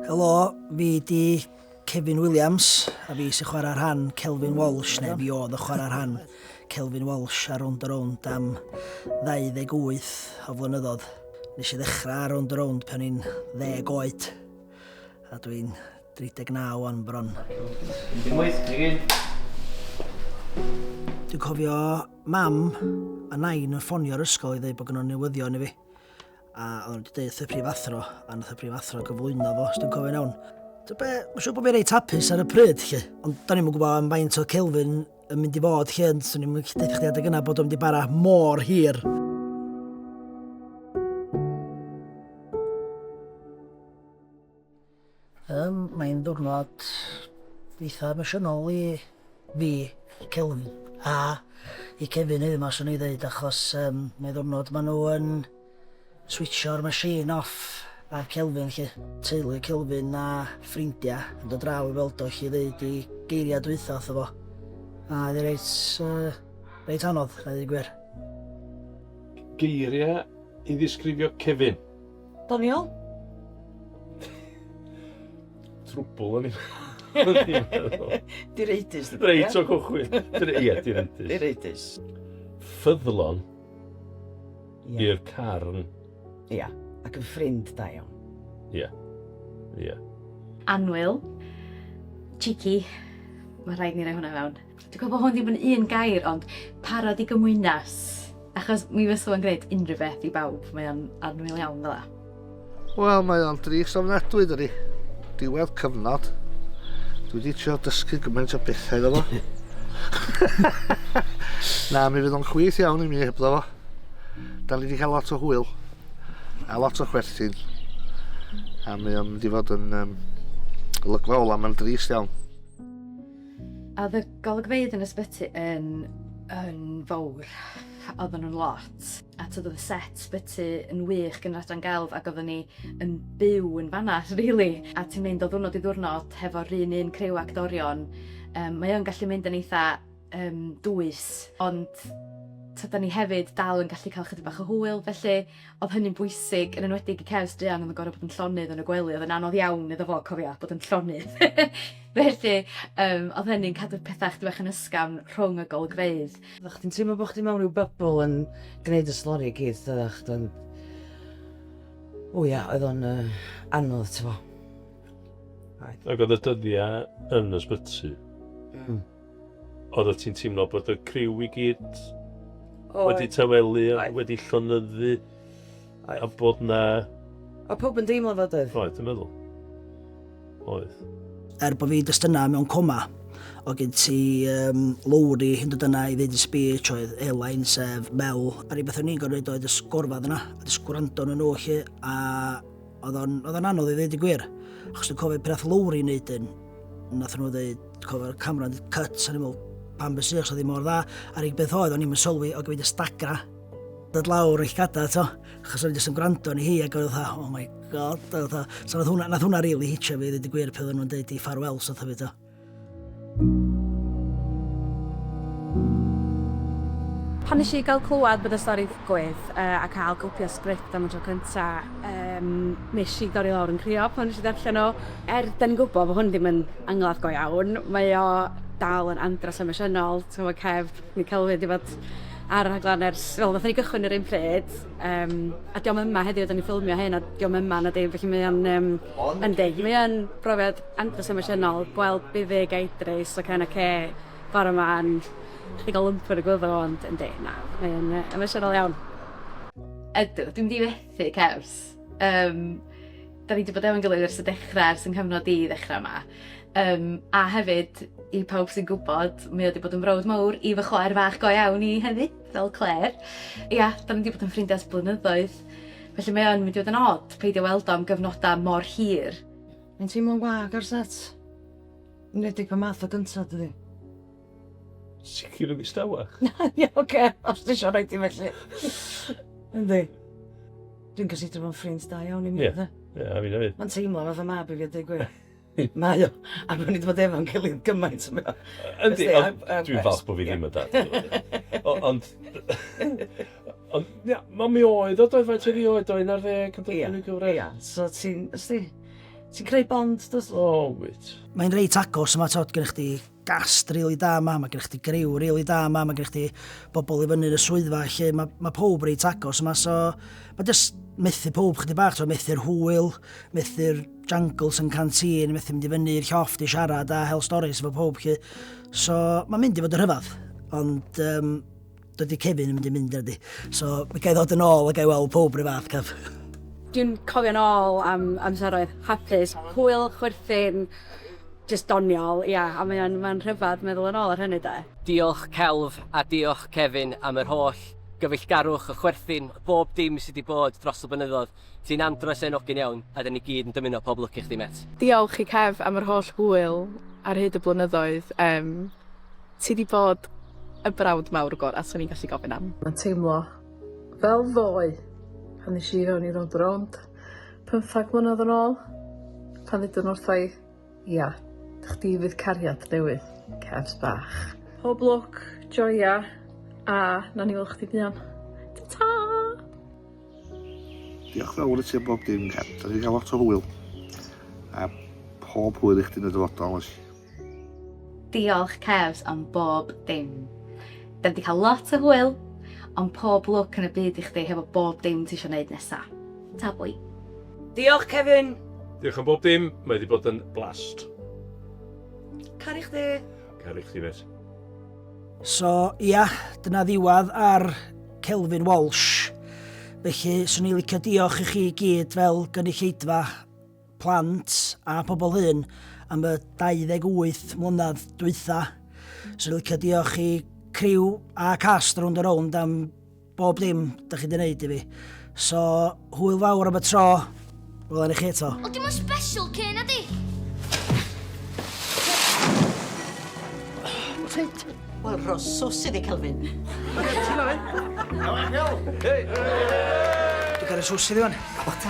Helo, fi di Kevin Williams, a fi sy'n chwarae rhan Kelvin Walsh, neu fi oedd y chwarae rhan Kelvin Walsh ar Round a Round am 28 o flynyddoedd. Nes i ddechrau ar Round a Round pan i'n ddeg oed, a dwi'n 39 o'n bron. Dwi'n cofio mam a nain yn ffonio'r ysgol i ddweud bod gynnwn newyddion i fi. A o'n wedi dweud y prifathro, a nath y prifathro gyflwyno fo, os dwi'n cofio'n iawn. Ti'n be, mae'n siŵr bod fi'n reit hapus ar y pryd, lle. Ond da ni'n mwyn gwybod am faint o Kelvin yn mynd i fod, lle, ond swn i'n mwyn chdi chdi adeg yna bod o'n mynd i bara mor hir. Yym, mae'n ddiwrnod eitha emosiynol i fi, i Kelvin, a i Kevin hefyd ma' swn i ddeud achos yym mae ddiwrnod ma' nhw yn switsio'r machine off ar Kelvin 'lly. Teulu Kelvin a ffrindia yn dod draw i weld o 'lly i ddeud 'i geiria' dwytha wrtho fo, a oedd 'i reit yy reit anodd a ddeud y gwir. Geiria' i ddisgrifio Kevin? Doniol? Trwbl o'n i'n meddwl. Direidus. Reit o cychwyn. Ie, direidus. Direidus. Ffyddlon i'r carn. Ia, ac yn ffrind da iawn. Ia, ia. Anwyl. Cheeky. Mae rhaid ni roi hwnna fewn. Dwi'n gwybod bod hwn ddim yn un gair, ond parod i gymwynas. Achos mi fysa fo'n gwneud unrhyw beth i bawb, mae o'n annwyl iawn fel la. Wel, mae o'n dris ofnadwy, dydy. Diwedd cyfnod. Dwi wedi trio dysgu gymaint o bethau iddo fo. Na, mi fydd o'n chwith iawn i mi hebddo fo. Da ni wedi cael lot o hwyl a lot o chwerthin. A mae o'n mynd i fod yn um, olygfa ola, mae'n drist iawn. A oedd y golygfeydd yn ysbyty yn, yn fawr. Oedden nhw'n lot. A tyd oedd y set ysbyty yn wych gan yr adran gelf ac oedden ni yn byw yn fanna, really. A ti'n mynd o ddwrnod i ddwrnod hefo'r un un criw actorion. Um, mae o'n gallu mynd yn eitha um, dwys, ond tyda ni hefyd dal yn gallu cael chydig bach o hwyl, felly Oedd hynny'n bwysig, yn enwedig i Kev, druan oedd yn gorfod bod yn llonydd yn y gwely, oedd yn anodd iawn iddo fo, cofia, bod yn llonydd. Felly, um, oedd hynny'n cadw pethau chdi bach yn ysgafn rhwng y golygfeydd. Oeddech chdi'n teimlo bod chdi mewn rhyw bybl yn gwneud y slori i gyd, oeddech chdi, ond... O ia, oedd o'n uh, anodd, ti'n fo. Ac oedd y dyddiau yn ysbyty. Mm. Oeddet ti'n teimlo bod y criw i gyd Oedd. wedi tawelu a Oedd. wedi llonyddu Oedd. a bod na... Oedd pawb yn deimlo fod oedd. Oedd, dwi'n meddwl. Oedd. Er bod fi just yna mewn coma, o gen ti um, Lowri yn dod yna i ddeud y speech, oedd Elain, sef Mel, a rhywbeth o'n i'n gorfod oedd y sgorfad yna, a jyst gwrando nhw nhw chi, a Oedd o'n, oedd o'n anodd i ddweud y gwir. Achos dwi'n cofio pryd Lowry yn neud yn, nath nhw ddweud, cofio'r camera yn cut, o'n i'n meddwl, pan bys i'ch, so ddim mor dda. A'r unig beth oedd, o'n i'n sylwi, o gyfyd y stagra, dod lawr eich gada, to. Achos o'n i'n yn gwrando ni hi, ac oedd oh my god, oedd so nath hwnna, nath hwnna really hitio fi, ddweud y gwir, peth o'n nhw'n dweud i farwel, so thyfu, to. Pan nes i gael clywed bod y stori ddigwydd a cael copi o sgript am y tro cynta, yym, nes i dorri lawr yn crio pan nes i ddarllen o. Er 'dan ni'n gwybod bod hwn ddim yn angladd go iawn, mae o dal yn andros o emosiynol, ti'n gwybod, cef Michael Owen 'di bod ar y rhaglen ers, wel, wnaethon ni gychwyn yr un pryd, yym, a 'di o'm yma heddiw, 'dan ni'n ffilmio hyn a 'di o'm yma na dim, felly mae o'n, yym, yndi, mae o'n brofiad Andros emosiynol gweld buddug a idris o Ken a Kay bore 'ma yn pigo lwmp yn y gwddw ond yndi, na, mae o'n yy emosiynol iawn. Ydw, dwi'm 'di methu cefs. Yym, 'da ni 'di bod efo'n gilydd ers y dechra, ers 'y nghyfnod i ddechra 'ma. Yym, a hefyd, i pawb sy'n gwybod, mae o 'di bod yn frawd mawr i fy chwaer fach go iawn i hefyd, fel Claire. Ia, 'da ni 'di bod yn ffrindia ers blynyddoedd, felly mae o'n mynd i fod yn od peidio weld o am gyfnoda mor hir. Mae'n teimlo'n wag ar set. Yn enwedig pan math o gynta, dydy. Sicr yn ddistawa. Na, ie, oce, os ti eisiau rhoi ti felly. Yndi. Dwi'n gysidro fo'n ffrind da iawn i mi, Ie. dde. Ie, a fi hefyd. Mae'n teimlo fatha mab i fi a dweud gwir. Mae o. A mae wedi bod efo'n gilydd gymaint o beth. Yndi, dwi'n falch bod fi ddim yn dad. Ond... Ond ia, ma' mi oedd o doedd faint oedd 'i oed o 11 yn Ia, gyfraith? ia, so ti'n, os di, ti'n creu bond dw't? O wyt. Mae'n reit agos yma t'od gennych chdi gast rili da yma ma' gennych chdi griw rili da yma ma' gennych chdi bobl i fyny yn y swyddfa felly ma' ma' powb reit agos yma so ma' jyst methu powb chydig bach t'od methu'r hwyl methu'r jangles yn canteen methu mynd i fyny i'r llofft i siarad a hel storis efo powb 'lly so ma'n mynd i fod yn rhyfadd ond yym Dydy Kevin yn mynd i mynd ydy. So, mi gael ddod yn ôl a gael weld pob rhyw fath, Kev. Dwi'n cofio'n ôl am amseroedd hapus, hwyl, chwerthin, just doniol, ia, a mae o'n mae rhyfedd meddwl yn ôl ar hynny de. Diolch Kelv a diolch Kevin am yr holl gyfeillgarwch a chwerthin, bob dim sydd wedi bod dros y blynyddoedd. Ti'n andros hen ogyn iawn a dan ni gyd yn dymuno pob lwc i chdi met. Diolch i Kev am yr holl hwyl ar hyd y blynyddoedd, yym ti di bod y brawd mawr gora swn i'n gallu gofyn am. Mae'n teimlo fel ddoe pan nes i fewn i Rownd a Rownd pymthag mlynedd yn ôl, pan ddudon wrtha i, ia, chdi fydd cariad newydd Kevs bach. Pob lwc, joia, a nawn ni weld chdi buan. Ta-ta! Diolch fawr i ti am bob dim, Ken. Da ni'n cael lot o hwyl. A pob hwyl i chdi'n y dyfodol, oes? Diolch, Kevs, am bob dim. Da ni wedi cael lot o hwyl, ond pob lwc yn y byd i chdi hefo bob dim ti eisiau gwneud nesa. Ta bwy. Diolch, Kevin! Diolch am bob dim, mae wedi bod yn blast. Caru chdi. Caru chdi, mêt. So, ia, dyna ddiwedd ar Kelvin Walsh. Felly, swn i'n licio diolch i chi i gyd fel gynulleidfa plant a pobl hyn am y 28 mlynedd dwytha. Swn i'n licio diolch i criw a cast rownd a rownd am Bob dim dych chi di wneud i fi. So, hwyl fawr am y tro. Wel, enni chi eto. O, dim ond special cyn na di. Ffit. Wel, rosos iddi, Kelvin. Dwi'n cael ei sws iddi fan. O, ta.